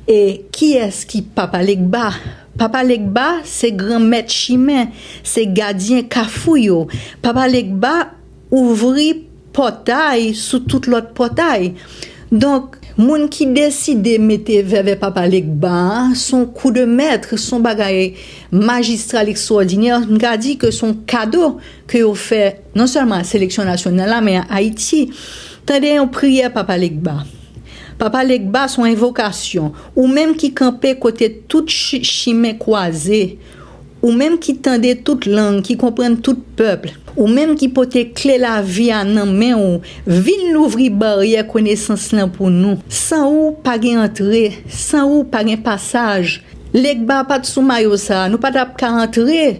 E kiyès ki Papa Legba? Papa Legba se gran mèt chimen, se gadyen kafou yo. Papa Legba ouvri pòtay sou tout lòt pòtay. Donk, moun ki deside mete vèvè Papa Legba a, s on kou de mèt, s on bagay majistral, ekstwòdinè, m ka di ke s on kado ke yo fè non sèlman a seleksyon nasyonal la men a Ayiti. Tande yon priyè Papa Legba. Papa Legba son envokasyon, ou menm ki kanpe kote tout chimen kwaze, ou menm ki tande tout lang, ki konprann tout pèp, ou menm ki pote kle lavi a nan men ou, vin louvri baryè konesans lan pou nou. San ou, pa gen antre, san ou, pa gen pasaj. Legba pat sou mayo sa, nou pa tap ka antre,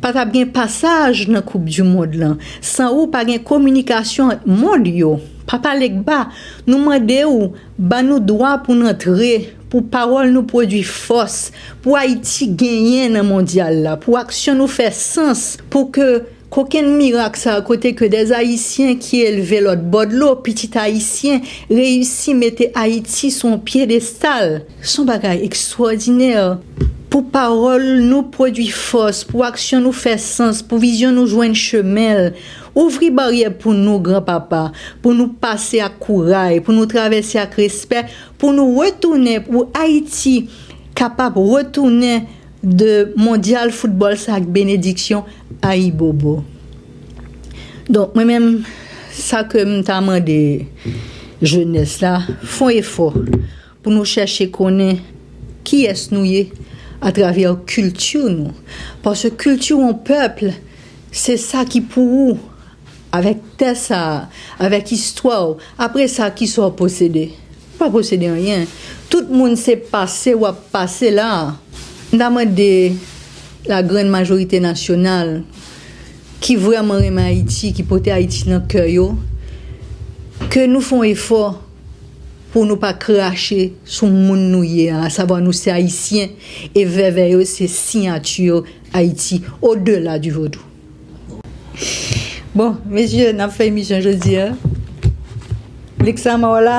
Pa tap gen pasaj nan koup du mond lan san ou pa gen kominikasyon ant mond yo. Papa Legba, nou mande ou ba nou dwa pou n antre, pou pawòl nou pwodui fòs, pou Ayiti genyen nan mondyal la, pou aksyon nou fè sans, pou ke kokenn mirak sa a kote ke des Ayisyen ki elve lòtbò dlo, pitit Ayisyen, reyisi mete Ayiti sou yon pyedestal. Son bagay ekstwòdinè pou pawòl nou pwodwi fòs, pou aksyon nou fè sans, pou vizyon nou jwenn chemen l. Ouvri baryè pou nou, Gran Papa, pou nou pase ak kouray, pou nou travèse ak respè, pou nou retounen, pou Ayiti kapab retounen de mondyal foutbòl sa ak benediksyon. Ayibobo. Donk mwen menm sa ke m ta mande jenès la, fon efò. Pou nou chèche konnen kiyès nou ye atravè kilti nou. Paske kilti yon pèp, se sa ki pou ou, avèk tè sa a, avèk istwa ou. Apre sa, ki sa ou posede? Ou pa posede anyen. Tout moun se pase w ap pase la a. M ta mande lagrann majorite nasyonal ki vrèman renmen Ayiti, ki pote Ayiti nan kè yo, ke nou fè yon efò. Pou nou pa krache sou moun nou ye a, asavwa nou se Ayisyen e vèvè yo se siyati Ayiti o dela di vodou. Bon, mesye, n ap fè emisyon jodi a. Lixama w la?